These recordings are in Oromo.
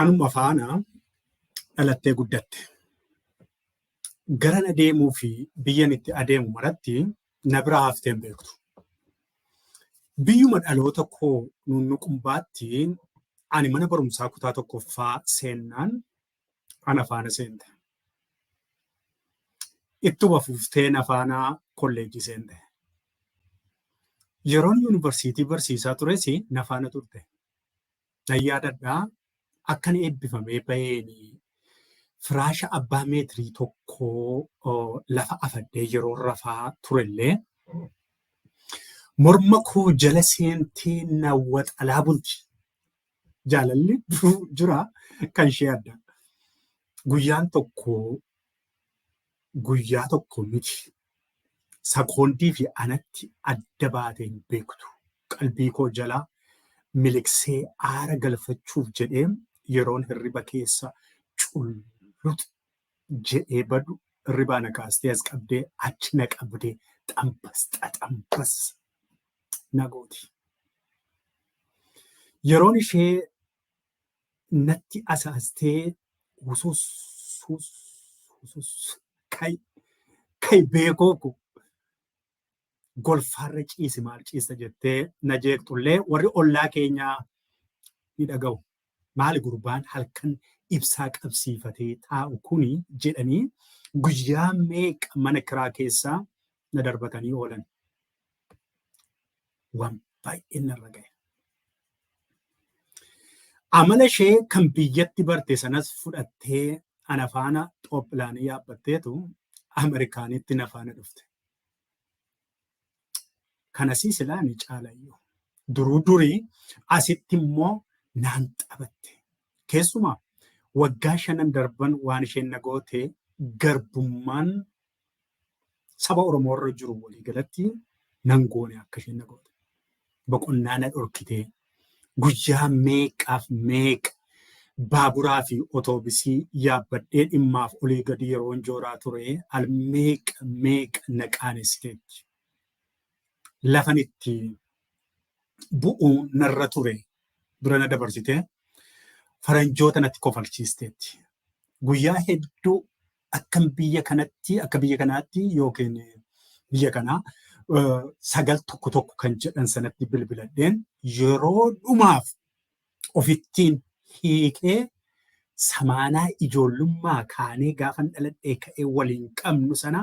Anuma faana dhalattee guddatte. Garan adeemuu fi biyyan itti adeemu maratti na bira haftee hin beektu. Biyyuma dhaloota koo nuunnuqumbaatti ani mana barumsaa kutaa tokkoffaa seennaan ana faana seente. Ittuma fuftee na faana kolleejjii seente. Yeroon yuunivarsiitii barsiisaa tures na faana turte. Nan yaadadhaa akkan eebbifamee baheen firaasha abbaa meetirii tokkoo lafa afadhee yeroo rafaa turellee morma koo jala seentee na waxalaa bulti. jaalalli duruu jira kan ishee adda. Guyyaan tokko guyyaa tokko miti. Sakoondii fi anatti adda baatee hin beektu. Qalbii koo jalaa miliqsee aara galfachuuf jedhee yeroon hirriba keessa cullut jedhee badu hirribaa na kaastee as qabdee achi na qabdee xambas xaxambas na gooti. Yeroon ishee natti asaastee husus hus husus kai kai beekoo ko golfaarra ciisi maal ciista jettee na jeeqxullee warri ollaa keenyaa ni dhaga'u. Maali gurbaan halkan ibsaa qabsiifatee taa'u kuni jedhanii guyyaa meeqa mana kiraa keessa na darbatanii oolan. Waan baay'een narra gahe. Amala ishee kan biyyatti barte sanas fudhattee ana faana xoophilaanii yaabbatteetu Ameerikaanitti na faana dhufte. Kanasii silaa ni caalayyuu. Duruu durii asitti immoo naan taphatte. Keessumaa waggaa shanan darban waan isheen na goote garbummaan saba Oromoo irra jiru walii galatti nan goone akka isheen na goote. boqonnaa na dhorkitee guyyaa meeqaaf meeqa baaburaa fi otoobisii yaabbadhee dhimmaaf olii gadi yeroon jooraa ture al meeqa meeqa na qaanessiteetti. Lafan itti bu'uu narra ture dura na dabarsitee faranjoota natti kofalchiisteetti. Guyyaa hedduu akkan biyya kanatti akka biyya kanaatti yookiin biyya kanaa sagal tokko tokko kan jedhan sanatti bilbiladheen yeroo dhumaaf ofittiin hiikee samaanaa ijoollummaa kaanee gaafan dhaladhee ka'ee waliin qabnu sana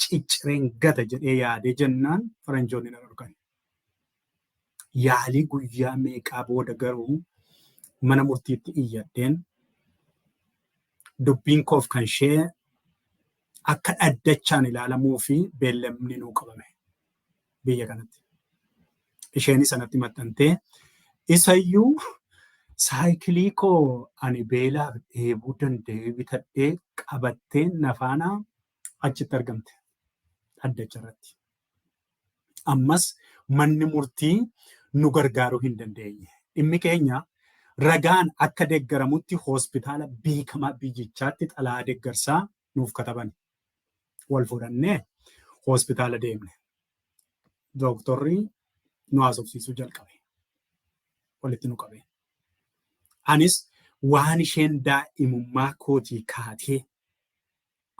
ciccireen gata jedhee yaadee jennaan faranjoonni na dhorkan. Yaalii guyyaa meeqaa booda garuu mana murtiitti iyyadheen dubbiin koof kan ishee akka dhaddachaan ilaalamuu fi beellamni nuu qabame biyya kanatti. Isheen sanatti maxxantee isayyuu saayikilii koo ani beelaaf dheebuu danda'ee bitadhee qabattee nafaanaa achitti argamte dhaddacha irratti. Ammas manni murtii nu gargaaruu hin dandeenye. Dhimmi keenya ragaan akka deggaramutti hospitaala beekamaa biyyichaatti xalaa deggarsaa nuuf kataban. Wal fudhannee hospitaala deemne. Dooktorri nu haasofsiisuu jalqabe. Walitti nu qabe. Anis waan isheen daa'imummaa kootii kaatee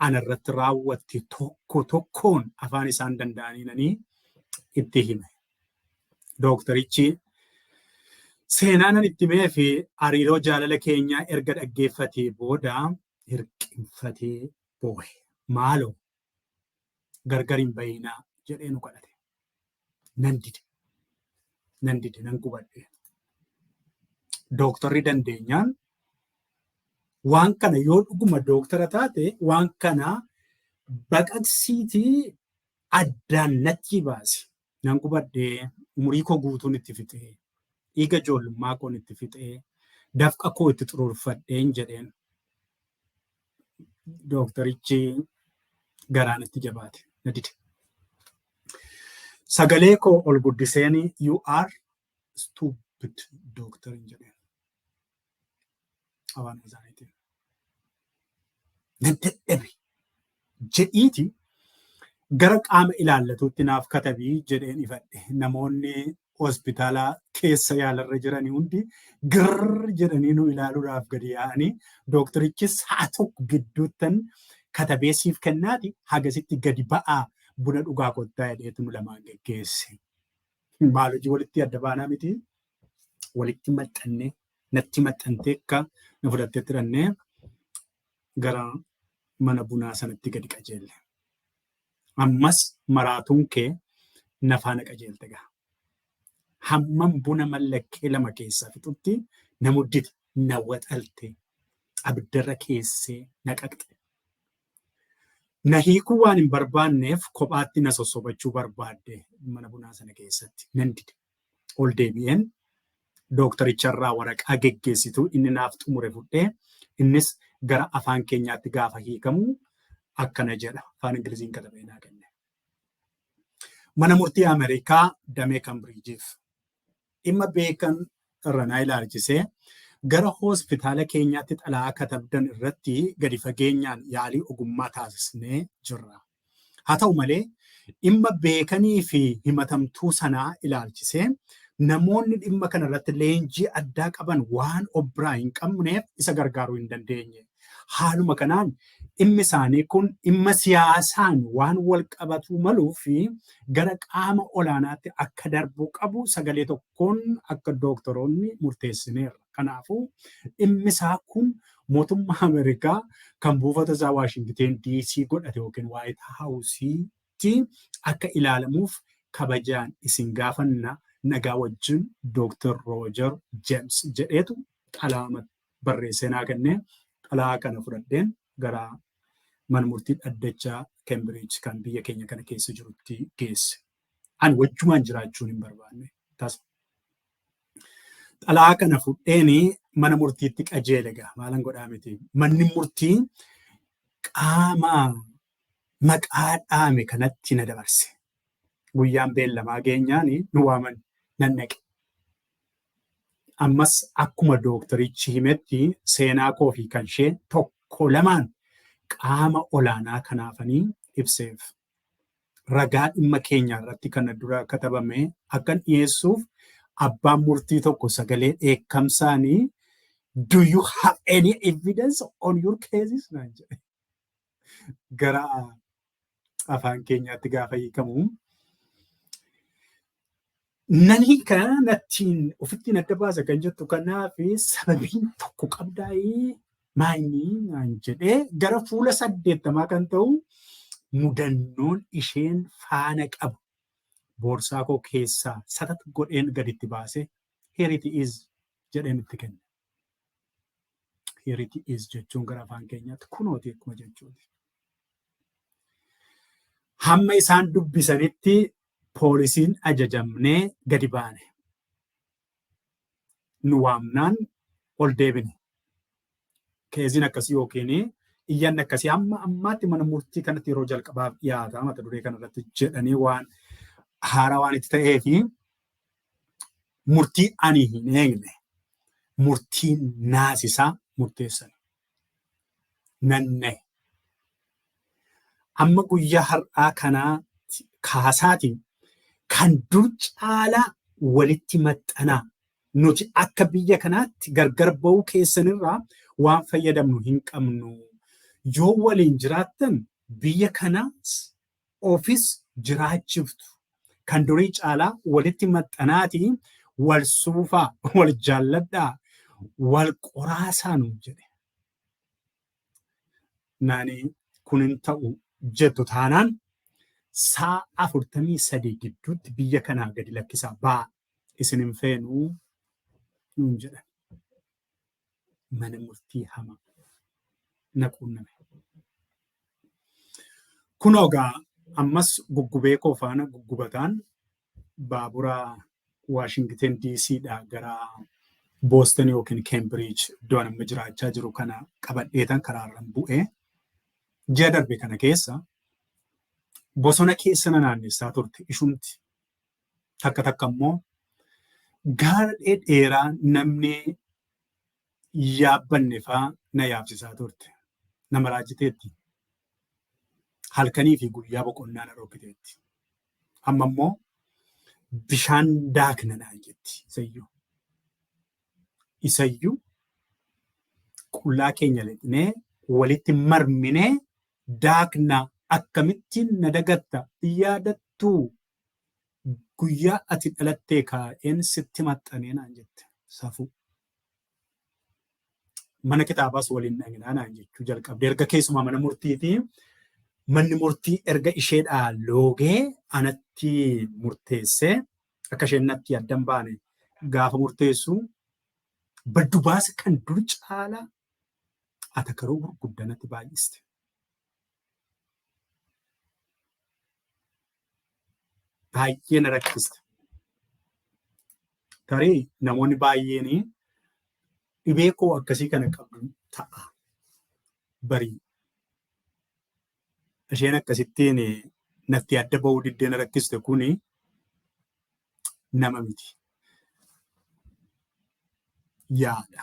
ana irratti raawwatte tokko tokkoon afaan isaan danda'aniinanii itti hime. Dooktarichi seenaanan itti himee fi hariiroo jaalala keenyaa erga dhaggeeffatee booda hirqinfatee boohe. Maaloo gargar hin bahinaa jedhee nu kadhate. Nan dide. Nan dide nan gubadhe. Dooktarri dandeenyaan waan kana yoo dhuguma dooktara taate waan kana baqaqsiitii addaan natti baasi. Nan gubadhe, umurii koo guutuun itti fixe, dhiiga ijoollummaa koon itti fixe, dafqa koo itti xuruurfadheen jedheen. Dooktarichi garaan itti jabaate na dide. Sagalee koo ol guddiseen you are stupid dooktar hin jedheen. Abaan Azaariitiin. Nan dadhabe jedhiiti gara qaama ilaallatuutti naaf katabii jedheen ifadhe. Namoonni hospitaala keessa yaalarra jiran hundi girr jedhanii nu ilaaluudhaaf gadi yaa'anii dooktarichis sa'a tokko gidduuttan katabee siif kennaati hagasitti gadi ba'aa buna dhugaa kottaa jedheetu nu lamaan geggeesse. Maal hojii walitti adda baanaa miti walitti maxxannee natti maxxantee akka na fudhattee tirannee gara mana bunaa sanatti gadi qajeelle. Ammas maraatuun kee na faana qajeelte gaha. Hammam buna mallakkee lama keessaa fixutti na muddite, na waxalte, abiddarra keessee na qaqxe. Na hiikuu waan hin barbaanneef kophaatti na sossobachuu barbaadde mana bunaa sana keessatti nan dide. ol deebi'een dooktaricharraa waraqaa geggeessituu inni naaf xumure fudhee innis gara afaan keenyaatti gaafa hiikamu akkana jedha afaan ingiliziin katabee naa kenne. Mana murtii Ameerikaa damee Kambiriijiif dhimma beekan irra naa ilaalchisee gara hospitaala keenyaatti xalayaa katabdan irratti gadi fageenyaan yaalii ogummaa taasisnee jirra. Haa ta'u malee, dhimma beekanii fi himatamtuu sanaa ilaalchisee namoonni dhimma kana irratti leenjii addaa qaban waan of biraa hin qabneef isa gargaaruu hin dandeenye. Haaluma kanaan dhimmi isaanii kun dhimma siyaasaan waan wal qabatuu maluu fi gara qaama olaanaatti akka darbuu qabu sagalee tokko Kun akka dooktoroonni murteessineerra. Kanaafuu dhimmisaa kun mootummaa Ameerikaa kan buufata isaa Waashingiteen DC godhate yookiin Waayit Haawusiitti akka ilaalamuuf kabajaan isin gaafanna nagaa wajjin Dooktar Roojar Jeems jedheetu xalayaa barreessee naa kenne. Xalayaa kana fudhadheen gara mana murtii dhaddacha Keembiriij kan biyya keenya kana keessa jirutti geesse. An wajjumaan jiraachuun hin barbaanne tasa. Xalaa kana fudheeni mana murtiitti qajeele gaa maalan godhaa miti. Manni murtii qaama maqaa dhaame kanatti na dabarse. Guyyaan beellamaa geenyaan nu waaman nan dhaqe. Ammas akkuma dooktarichi himetti seenaa koo fi kan ishee tokko lamaan qaama olaanaa kanaafanii ibseef. ragaa dhimma keenyaa irratti kana dura katabame akkan dhiyeessuuf abbaan murtii tokko sagalee dheekkamsaanii do you have any evidence on your cases naan jedhe. Gara afaan keenyaatti gaafa hiikamu Nani kana nattiin ofittiin adda baasa kan jettu kanaaf sababiin tokko qabdaa'ee maayinii naan jedhee gara fuula saddeettamaa kan ta'u mudannoon isheen faana qabu boorsaa koo keessaa satat godheen gaditti baasee here it is jedheen itti kenne. Here it is jechuun gara afaan keenyaatti kunooti akkuma jechuuti. Hamma isaan dubbisanitti poolisiin ajajamnee gadi baane. Nu waamnaan ol deebine. Keeziin akkasii yookiin iyyanni akkasii amma ammaatti mana murtii kanatti yeroo jalqabaaf dhiyaata mata duree kanarratti jedhanii waan haaraa waan itti ta'ee fi murtii ani hin eegne murtii naasisaa murteessan nan nahe. Amma guyyaa har'aa kanaa kaasaatiin kan dur caalaa walitti maxxanaa nuti akka biyya kanaatti gargar ba'uu keessanirraa waan fayyadamnu hin qabnu. Yoo waliin jiraattan biyya kanaas ofis jiraachiftu kan durii caalaa walitti maxxanaati wal suufaa wal jaalladhaa wal qoraasaanu jedhe. Naani kun hin ta'u jettu taanaan saa afurtamii sadii gidduutti biyya kanaa gadi lakkisaa baa isin hin feenuu nuun jedhan. mana murtii hamaa na quunname. Kun ogaa ammas guggubee koo faana guggubataan baabura Waashingiten DC dhaa gara Booston yookiin Keembiriij iddoo amma jiraachaa jiru kana qabadheetan karaarran bu'ee ji'a darbe kana keessa bosona keessa na naannessaa turte ishumti. takka takka immoo gaara dheeraa namni yaabbanne faa na yaabsisaa turte. Nama raajiteetti. Halkanii fi guyyaa boqonnaa na dhokkiteetti. Amma immoo bishaan daakna naan jetti isayyuu. Isayyuu qullaa keenya lixnee walitti marminee daakna akkamittiin na dagatta yaadattuu Guyyaa ati dhalattee kaa'een sitti maxxanee naan jette. Safuu. Mana kitaabaas waliin dhaqnaa naan jechuu jalqabde. Erga keessumaa mana murtiitii manni murtii erga isheedhaa loogee anatti murteessee akka isheen natti addan baane gaafa murteessu baddu baasa kan dur caalaa atakaroo gurguddaa natti baay'iste. baay'ee na rakkisa. Tarii namoonni baay'een dhibee koo akkasii kana qabdu ta'a. Barii isheen akkasittiin natti adda ba'uu diddee na rakkiste kun nama miti. Yaada.